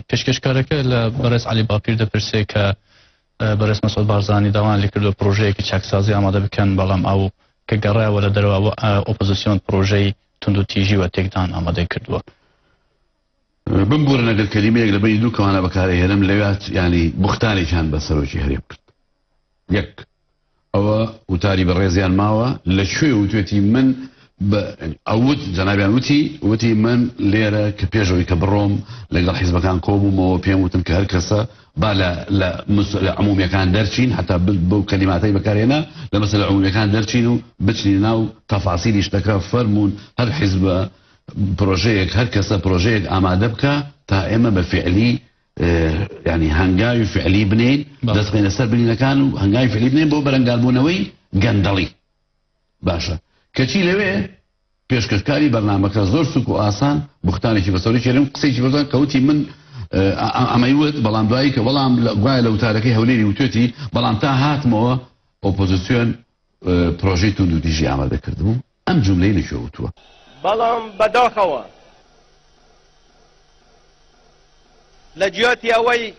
پێشکەشکارەکە لە بەڕێز عەلی باپیر دەپرسێ کە بەڕێز مەسعود بارزانی داوان لێ کردو پرۆژەیەکی چاکسازی ئامادە بکەن بەڵام ئەو کە گەڕایەوە لە دەرەوە ئۆپۆزیسیۆن پرۆژەی توندوتیژی و تێکدان ئامادەی کردووە بمبورن ئەگەر کەلیمەیەک لە بەینی دوو کەوانە بەکار ئەهێنم لەوێات یانی بوختانێکیان بە سەرۆکی هەرێم کرد یەک ئەوە وتاری بەڕێزیان ماوە لە کوێ وتێتی من ئەوت جەنابیان وتی وتی من لێرە کە پێشەوەی کە بڕۆم لەگەڵ حیزبەکان کۆبوومەوە پێم وتن کە هەر کەسە با لە لە مسلە عمومیەکان دەرچین حتا بەو کەلیماتەی بەکارێنە لە مەسلە عمومیەکان دەرچین و بچنی ناو تەفاسیلی شتەکە فەرمونون هەر حیزبە پرۆژەیەک هەر کەسە پرۆژەیەک ئامادە بکا تا ئێمە بە فعلی یعنی هەنگاوی فعلی بنین دەست بینە سەر بنینەکان و هەنگاوی فعلی بنین بۆ بەرەنگاربوونەوەی گەندەڵی باشە کەچی لەوێ پێشکەشکاری بەرنمەکە زۆر سوک و ئاسان بختانێکی بەسەری کێرم قسێکی بەزان کەوتی من ئەمەی وت بەڵام دوایی کە بەڵام گوایە لە وتارەکەی هەولێری وتێتی بەڵام تا هاتمەوە ئۆپۆزیسیۆن پرۆژەی توندوتیژی ئامادە کردبوو، ئەم جوملەی لە کوێ وتووە؟ بەڵام بەداخەوە لە جیاتی ئەوەی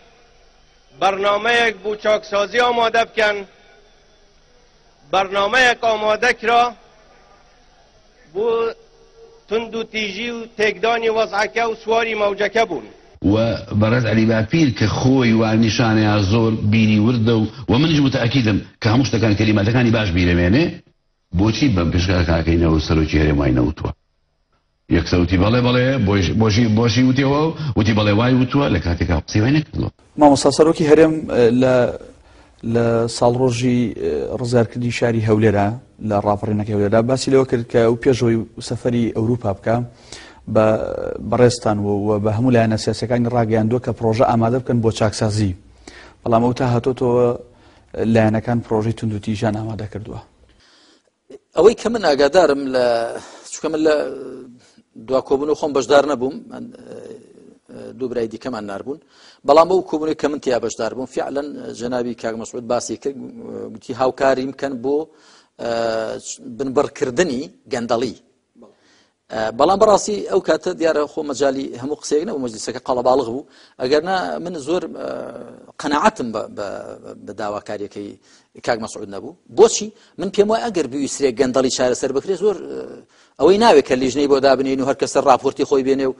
بەرنامەیەک بو چاکسازی ئامادە بکەن، بەرنامەیەک ئامادە کرا، بۆ توندوتیژی و تێکدانی وەزعەکە و سواری مەوجەکە بوون. و بەڕێز عەلی باپیر کە خۆی وا نیشانەیا زۆر بیری وردە و وە منیش موتەئەکیدم کە هەموو شتەکان کەلیماتەکانی باش بیرەمێنێ بۆچی بەم پێشکاکاکەی نەوەو سەرۆکی هەرێم وای نەوتوە یەکسەر وتی بەڵێ بەڵێ بۆشی بۆشی وتیەوە و وتی بەڵێ وای وتووە لە کاتێکا قسەی وای نەکردووە. مامۆستا سەرۆکی هەرێم لە لە ساڵڕۆژی ڕزارکردنی شاری هەولێرا لە ڕاپەڕینەکە هەولێرا باسی لەوە کرد کە و پێشەوەی سەفری ئەوروپا بکە بە بەڕێستان و بە هەموو لایەنە سیاسەکانی ڕاگەیاندووە کە پرۆژە ئامادە بکەن بۆ چاکسازی بەڵام ئەو تا هاتۆتەوە لایەنەکان پرۆژەی تونندوتیژان ئامادە کردووە ئەوەی کە من ئاگادارم لە چکە من لە دوا کۆبوون و خۆم بەشدار نەبووم دوو برای دیکەمان ناربوون بەڵام ئەو کۆبوونی کە من تیا بەشدار بووم فعلەن جەناوی کاک مەسعود باسی کرد گوتی هاوکاریم کەن بۆ بنبڕکردنی گەندەڵی بەڵام بەڕاستی ئەو کاتە دیارە خۆ مەجای هەموو قسەیەک نەبوو مەجلیسەکە قەڵەباڵغ بوو ئەگەرنا من زۆر قەنەعەتم بە داواکاریەکەی کاک مەسعود نەبوو بۆچی من پێم وای ئەگەر بویسرێک گەندەڵی چارەسەر بکرێ زۆر ئەوەی ناوێت کە لیژنەی بۆ دابنین و هەر کەسە راپۆرتی خۆی بێنێ و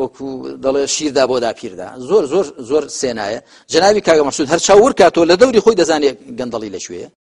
وەکو دەڵێ شیردا بۆ داپیردا زۆر زۆر زۆر سێنایە جناوی کاگە مەسود هەر چاور کاتۆ لە دەوری خۆی دەزانێت گەندەڵی لەکوێ